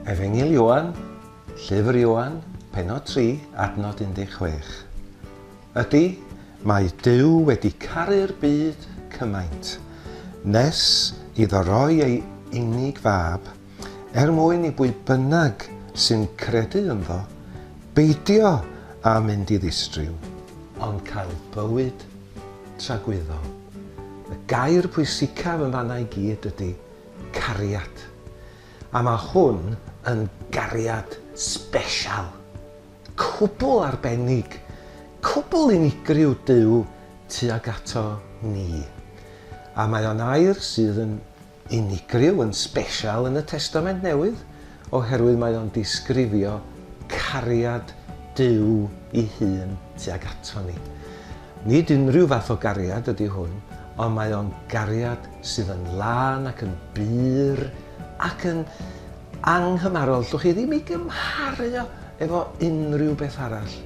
Efengyl Ioan, Llyfr Ioan, Penod 3, Adnod 16. Ydy, mae Duw wedi caru'r byd cymaint, nes iddo roi ei unig fab Er mwyn i bwy bynnag sy'n credu ynddo beidio â mynd i ddistryw, ond cael bywyd tragwyddol. Y gair pwysicaf yn fan'na i gyd ydy cariad. A mae hwn yn gariad sbesial, cwbl arbennig, cwbl unigryw Duw tuag ato ni. A mae o'n air sydd yn Unigryw yn sbesial yn y Testament Newydd oherwydd mae o'n disgrifio cariad Duw i hun tuag ato ni. Nid unrhyw fath o gariad ydy hwn, ond mae o'n gariad sydd yn lân ac yn bur ac yn anghymarol. Llwch chi ddim i gymharu o efo unrhyw beth arall.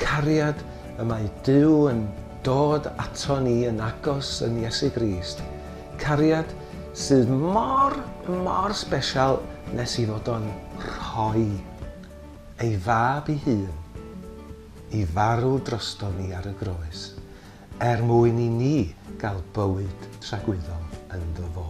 Cariad y mae Duw yn dod ato ni yn agos yn Iesu Grist. Cariad sydd mor, mor sbesial nes i fod o'n rhoi ei fab i hun i farw drosto ni ar y groes er mwyn i ni gael bywyd tragwyddol ynddo fo.